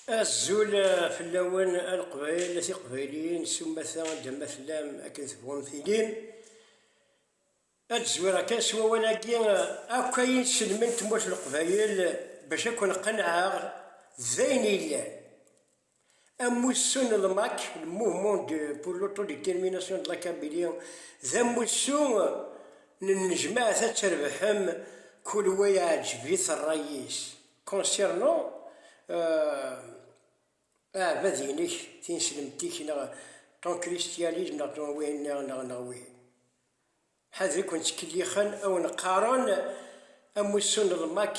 Azul fell-awen a Leqbayel, a Tiqbayliyin, s umata anda ma tellam akken tebɣum tilim. Ad d-zwireɣ kan s wawal-agi, akk ayen sellmen Tmurt n Leqbayel bac a ken-qennɛeɣ d ayen yellan. Amussu n LMAC, le Mouvement pour l'Autodétermination de la Kabylie, d amussu n nnejmaɛt ad trebḥem kul wa iɛǧeb-it rray-is concernant aɛbad-inek, tineslemt-ik neɣ ton christialisme neɣ ton wihin neɣ neɣ neɣ wihin. Ḥader i ken-ttkellixen, a wen-qqaren amussu n LMAC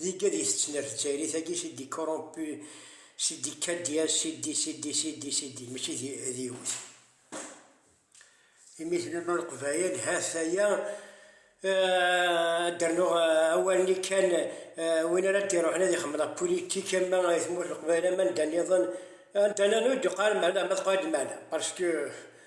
Degga di tettnert ttayrit agi sidi corrompu sidi cadias sidi sidi sidi sidi mačči d yiwet imi tlul leqbayel hat aya ad d-rnuɣ awal-nni kan win ara d-iruḥen ad ixemmel ɣef politique ama i tmurt n leqbayel ama anda niḍen anda niḍen ur d-yuqal meɛna ma teqal-d meɛna parce que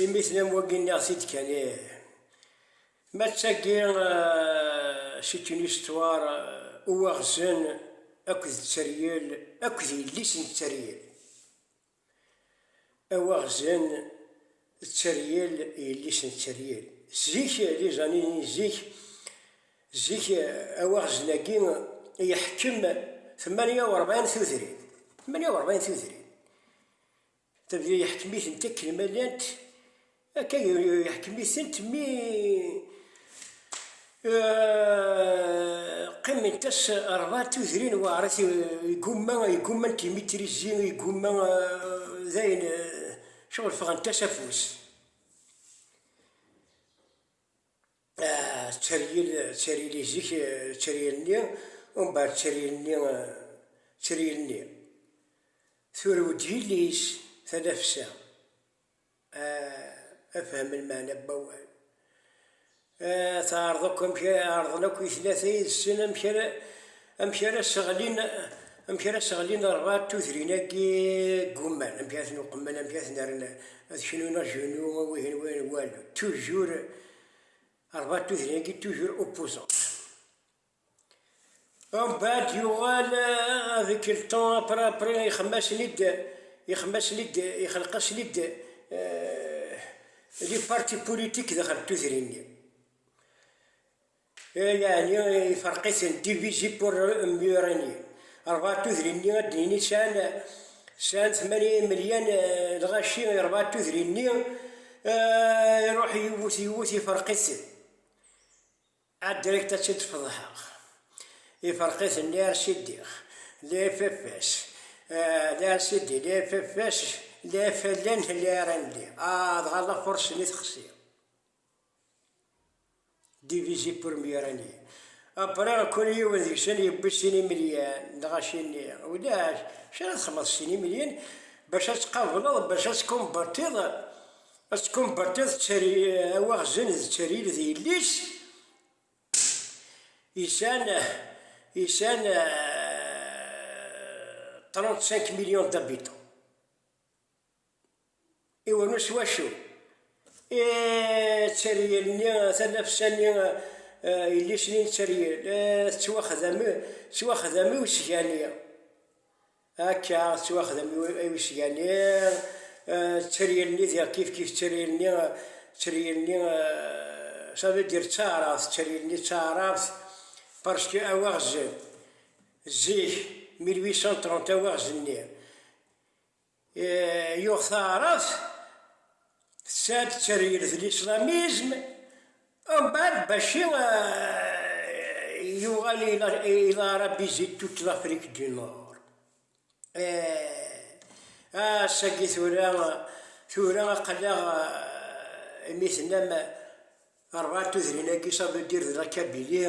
Imi tennam wagi nniɣ-t-id kan ih. Mattagi c'est une histoire Uwaɣzen akked tteryel akked yelli-s n tteryel. Awaɣzen d tteryel yelli-s n tteryel. Zik di zanin n zik, zik awaɣzen-agi yeḥkem tmanya urebɛin tudrin, tmanya urebɛin tudrin. Tabya yeḥkem-itent akken ma llant, akka yeḥkem-itent mi qqiment-as rebɛa tudrin weɛrit, igumma, igumma n timitrizi, igumma d ayen ccɣel ffɣent-as afus. Tteryel, tteryel izik, tteryel-nni, umbeɛd tteryel-nni, tteryel-nni. Turew-d yelli-s tanafsa. Ah, ad fehmen lmeɛna n wawal. Ah, teɛreḍ akk amek ara, ɛerḍen akk i tlata yid-sen amek ara. Amek ara sseɣlin, amek ara sseɣlin rrad tudrin-agi ggumman, amek ara ten-uqemmen, amek ara ten-rren ad knun agenu, wihin wihin wal, toujours rrad tudrin-agi toujours opposants. Umbeɛd yuɣal avec le temps après après ixemmasen-id, ixemmasen-id, ixelqasen-id les partis politiques daxel n tudrin-nni. Yeɛni ifreq-iten divisé pour mieux régner. Rebɛa tudrin-nni ad d-nini sɛan sɛan tmanya imelyan n lɣaci i rebɛa tudrin-nni, iruḥ yiwet yiwet ifreq-iten. Ah direct ad tt-id-feḍḥeɣ. Ifreq-iten les RCDR, les FFS, les RCD, les FFS, les FLN, les RND. Ah dɣa la force-nni texsi. Divizi Purmyurani. Apre, kul yiwen deg-sen yewwi sin imilyan, neɣ acimi, ulac, acu ara txedmeḍ s sin imilyan bac ad tqableḍ, bac ad tkunbertiḍ, ad tkunbertiḍ awaɣzen d ttaril d yelli-s, isan, isan trente-cinq millions d'habitants. Iwanu s wacu? I tteryel-nni, tanafsa-nni, yelli-s-nni n tteryel, tettwaxdam, tettwaxdam i usgani, akka, tettwaxdam i usgani, tteryel-nni diɣ kifkif tteryel-nni, tteryel-nni, ça veut dire d taɛrabt, tteryel-nni d taɛrabt, parce que awaɣez, zik, mille huit cent trente, awaɣez-nni. Yuɣ taɛrabt tesɛa-d tteryel d lislamizm, umbeɛd Baci yuɣal i larabizit toute l'Afrique du Nord. Ass-agi tura, tura aql-aɣ imi tennam rran tudrin-agi ça veut dire de la Kabylie.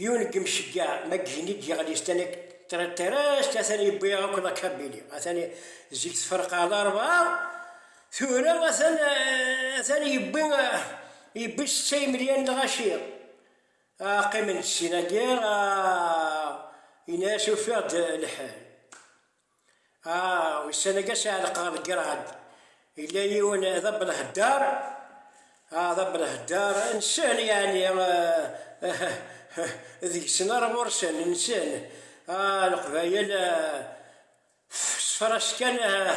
Yiwen n yimceggeɛ ma ggen i d-yeɣli s tanekt Tretterest, atan yewwi akk Lakabili, atan zik tferqeɛ d arebɛa, tura atan atan yewwi yewwi setta yimelyan n lɣaci, qqimen-d sin-agi, yenna-as ufiɣ-d lḥal. Ah, ussan-agi as-ɛelqeɣ deg rad. Yella yiwen d abelheddar, ah, d abelheddar, nsen yeɛni, deg-sen ar ɣur-sen, nsen, ah, Leqbayel, ah, s tefras kan, ah,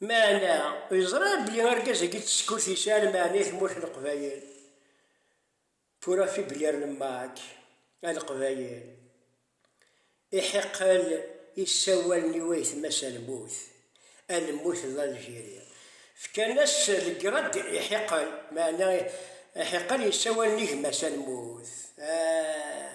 Meɛna, yeẓra belli argaz-agi d tsekkurt yesɛan lmeɛna i tmurt n Leqbayel. Tura Fiblir n Mac, A Leqbayel, iḥiqel isawalen i wayetma-s a lmut, a lmut d Aljiri. Fkan-as legrad iḥiqel, meɛna iḥiqel isawalen i gma-s a lmut. Ah!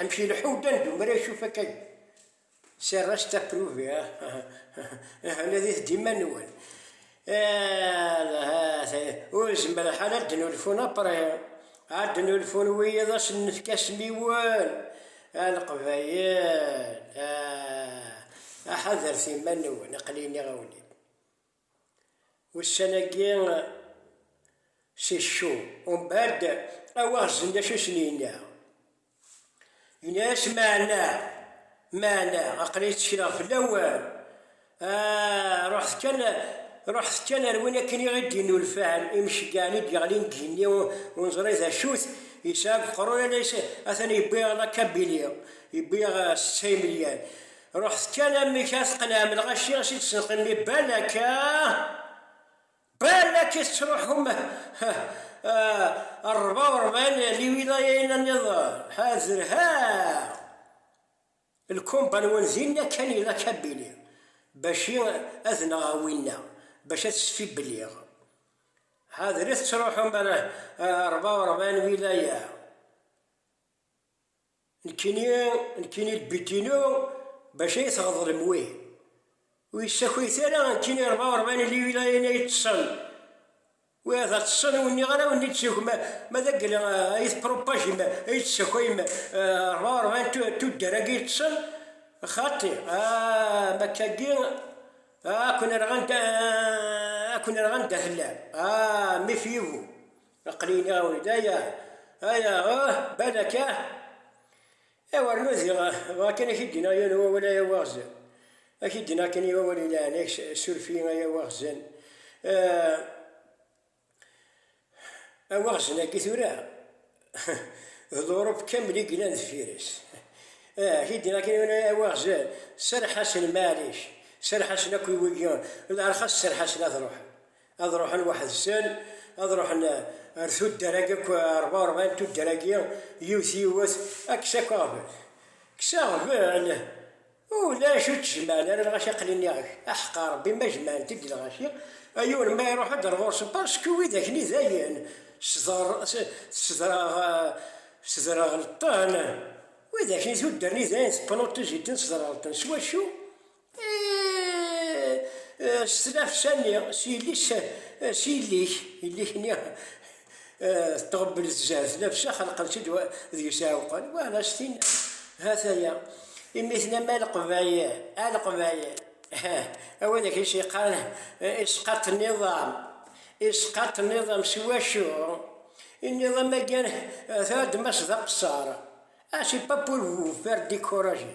Amek ileḥḥu Dan d Umar acu fakk aya? C'est reste à prouver ah nadit-d iman-nwen ur zemreɣ ara ad d-nulfun apre ad d-nulfun wiyiḍ ad sen-nefk asmiwen a leqbayel ah aḥadret iman-nwen aql-i nniɣ-awen-id. Ussan-agi si Ccu, Umbad, awaɣzen d acu i sen-yenna. Yenna-yas, Meɛna, meɛna, aql-iyi ttekleɣ fell-awen, ah, ruḥet kan, ruḥet kan ar win akken i ɣ-id-yennulfan imceggɛen i d-yeɣlin deg igenni ur neẓri d acu-t, yesɛa deg uqerru-ya, atan yewwi-yaɣ Lakabili, yewwi-yaɣ setta imelyan. Ruḥet kan amek ad tqenɛem lɣaci i d-tesnqimmi balaka balak i tettruḥum rrba u rebɛin liwilayayin-a nniḍen, ha zerhaɣ lkumba-nwen dinna kan ilak a Billy bac i ad nɣeɣ winna bac ad tt-sfibbeliɣ, ḥader i tettruḥum rrba u rebɛin wilaya. Nekkini, nekkini lbit-inu, bac ay tɣeḍlem wi ur yessakayet ara, nekkini rebɛa u rebɛin n liwilayin ay ṭṭsen, wi ad ṭṭsen, ur nniɣ ara ur nid-ssakay, ma, ma d agel ay tpropage-m, ay d-tessakayem rebɛa u rebɛin n tuddar-agi ay ṭṭsen, xaṭi, ah, ma akka-agi, ah, ad ken-rreɣ anda, ah, ad ken-rreɣ anda tellam, ah, méfiez-vous. Aql-in a Uldaya, aya ah, balak ah. Aw rnu diɣ, bɣa kan a k-id-iniɣ yiwen n wawal ay awaɣzen. A k-id-iniɣ kan i wawal ilaɛni-k, suref-iyi ay awaɣzen. Awaɣzen-agi tura, d Uṛup kamel i yellan deffir-s. Ah, a k-id-iniɣ kan yiwen ay awaɣzen, serreḥ-asen maɛlic, serreḥ-asen akk i wigi, leṛxas serreḥ-asen ad ṛuḥen. ad ruḥen weḥd-sen, ad ruḥen eh, ar tuddar-agi akk eh, rebɛa urebɛin tuddar-agi, yiwet yiwet, ad kkes akk aɣbel. Kkes aɣbel, ulac ur ttjemɛen ara lɣaci aqlin iɣek, aḥeqqa Rebbi ma jemɛent-d lɣaci, ayyur ma iruḥ ad rɣursen, parsku wid akni dayen, sderɣelṭen, wid akni tuddar-nni dayen teqqen uṭij-iten sderɣelṭen, s wacu? s tlafsa-nni, s yelli-s, s yelli-k, yelli-k-nni tɣebbel tzar, tlafsa xelqen-tt-id d yisɛuqen, wa d as-tin, ha-t-aya, imi tennam a leqbayel, a leqbayel, a wid ak is-yeqqaren isqaṭ n iḍam, isqaṭ n iḍam s wacu? n iḍam-agi tɛuddem-as d aqeṣṣer, ah c'est pas pour vous faire décourager.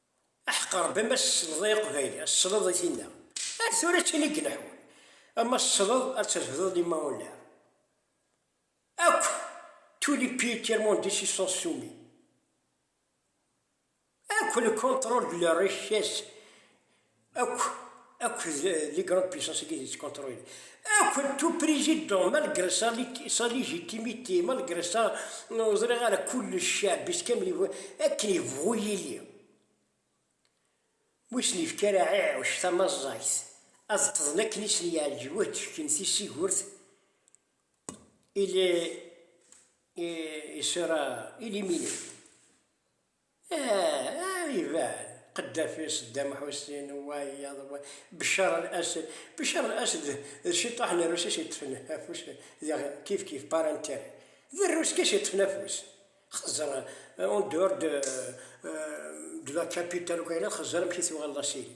Aḥeqqer Rebbi ma tsleḍ i Iqbayli ad tesleḍ i tinna. Ar tura d tin i ileḥḥun. Ma tesleḍ ad trefdeḍ limma ur nɛir. Akk tous les pays tiers monde s'y sont soumis. Akk le contrôle de leur richesse Akk, akk les grandes puissances i d ittkontrulin, akk tout président, malgré sa sa légitimité, malgré sa ur ẓriɣ ara kullec ceɛbi-s kamel yebɣa, akken yebɣu yili, ma ur sen-yefki ara ɛiɛuc tamaẓẓagt ad ṭṭḍen akken i sen-yeɛǧeb ur d-fkin tisigurt, il est il sera éliminé. Aah aah iban, Qeddafi, Seddam Ḥusin, wayeḍ, wa, Beccar Al Ased, Beccar Al Ased d ciṭuḥ n Rrusis yeṭṭfen afus diɣ kif kif par intérêt d Rrus kas yeṭṭfen afus xezzer en dehors de de la capitale ukk ayen ad xezzer amek i tuɣaleḍ asiri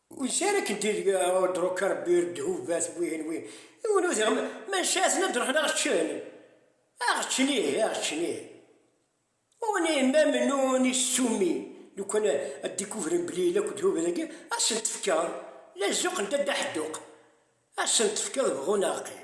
Wiss ara kent-id udruk Rebbi ur d-hubat wihin wi yiwen ur t-iɣ maca aten ad ruḥen aɣ ččen aɣ ččen ih aɣ ččen ih on est même nous on est soumis lukan ad découvren belli yella akk ddhub dagi ad sen tefkeḍ la zzuqent a dda ḥedduq ad sen tefkeḍ bɣun aɣ qim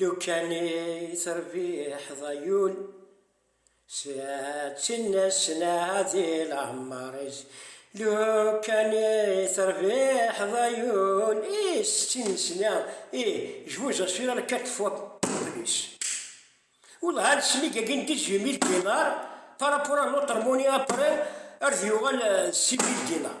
Lukan i terbiḥeḍ a yul. Sɛedtin snat di leɛmar-is. Lukan i terbiḥeḍ a yul. I settin snat i jbuz asfir ara quatre fois plus. Wellah ad snig agi n dix huit mille dinars par rapport à notre monnaie après ar d yuɣal d six mille dinars.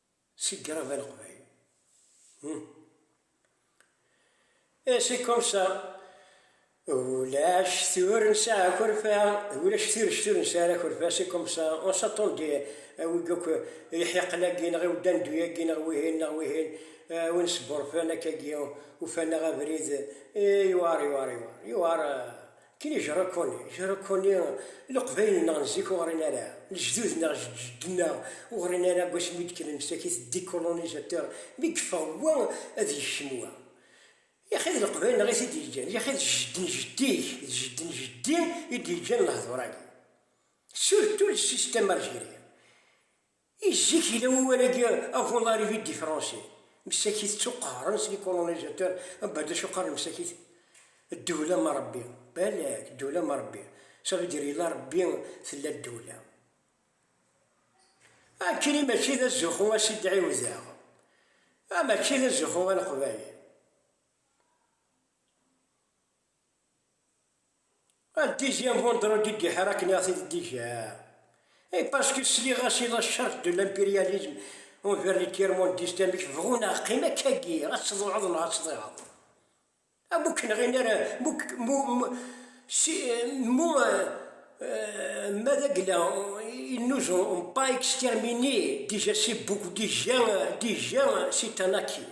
Si Grava Leqbayel. Et c'est comme ça. Ulac tur nesɛa akerfa, ulac tirect ur nesɛa ara akerfa, c'est comme ça. On s'attend des awig akk iḥiqen-agi neɣ iwdandu-agi neɣ wihin neɣ wihin, win sburfan akkagi, ufan-aɣ abrid, yewɛer, yewɛer, yewɛer, yewɛer. Ken ijerra Ken ijerra Kuni Leqbayel neɣ n zik ur ɣrin ara, lejdud neɣ jedǧednneɣ ur ɣrin ara deg wasmi i d-kkren msakit decolonisateur mi yeffeɣ wa ad yekcem wa. Yaxi d Leqbayel neɣ i t-id-yeǧǧan, yaxi d jedd n jeddi-k d jedd n jeddi i d-yeǧǧan lehdur-agi. Surtout le système algérien. I zik yella wawal-agi avuḍar i vidifranse, msakit ttuqehren s likolonizatur, abad acu qqaren msakit, ddewla ma Rebbi, balak, ddewla ma Rebbi, ça veut dire yella Rebbi tella ddewla. Akkenni mačči d azuxxu a s-id-ɛiwdeɣ, mačči d azuxxu a Leqbayel. Un deuxième vendredi de guerre akken i ɣ-t-id d-iga. Et parce que sliɣ-as i la charge de l'impérialisme envers les tiers-mondistes amek bɣu neɣ qim akkagi ad tḍuɛeḍ neɣ ad tḍiɛeḍ. Am ur k-nɣin ara mu si mu ma d agla ils nous ont pas exterminés déjà c'est beaucoup déjà déjà c'est un acquis.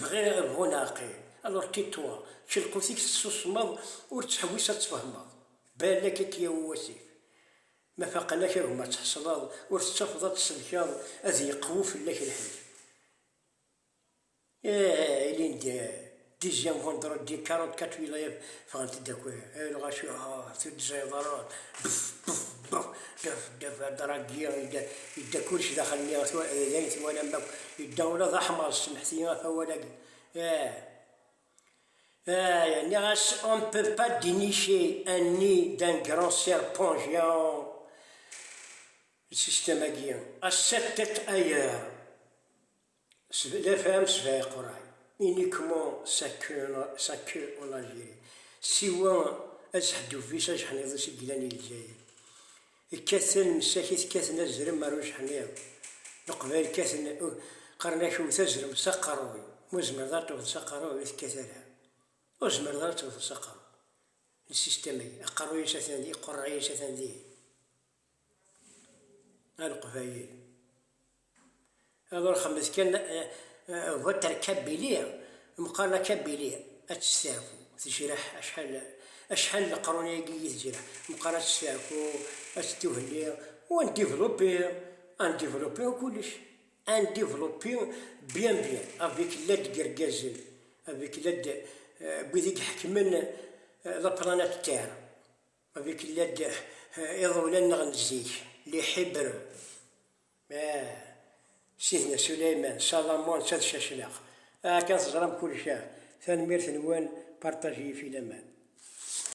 Bɣiɣ ad bɣun ɛaqil. Alors tais toi, čč lqut-ik tessusmeḍ ur ttḥewwis ad tfehmeḍ. Balak ad k-yawi wasif. Ma faqen-ak a gma tḥesleḍ ur tettafeḍ ad tselkeḍ ad yeqwu fell-ak lḥif. Ehh ilindi, deuxième vendredi 44 wilayat Ffɣent-d akk lɣaci, ah, tuddẓayeḍ ara, bef, bef, bef, daf, daf, adṛagi, yedda, yedda kullec daxel-nni, d ayen twalam akk, yedda ula d aḥmaṛ, ssemḥet-iyi ɣef awal-agi, eh, eh, nniɣ-as, on ne peut pas dénicher un nid d'un grand serpent géant, système-agi, à sept têtes ailleurs. La femme se fait Corail uniquement sa queue, sa queue en Algérie. Siwa azeḥdub-is ajeḥniḍ-is i yellan i Lezzayer. Kkat tanemsak i tekkaten azrem ar ujeḥniḍ. Leqbayel kkaten, qqaren-ak wwet azrem s aqerruy. Ma ur tezmireḍ ara tewwteḍ s aqerruy ur tekkat ara. Ur tezmireḍ ara tewwteḍ s aqerruy. Lsistem-agi, aqerruy-is atan dihin, iqurray-is atan dihin. a leqbayel ad rexmet kan votre kabili meqqar la kabili ad testeɛfu tejreḥ acḥal acḥal leqrun ayagi i tejreḥ meqqar ad testeɛfu ad tettuhelli wa n développé un développé kullec un développé bien bien avec l'aide gergazen avec l'aide wid i iḥekmen la planète terre Avec l'aide iḍewlan-nneɣ n zik, les Hébreux, ah, Sidna Souleymane, Salomon, netta d Cacnaq, ah, kan teẓram kullec, ah, tanemmirt-nwen, partagez-iyi-t i laman.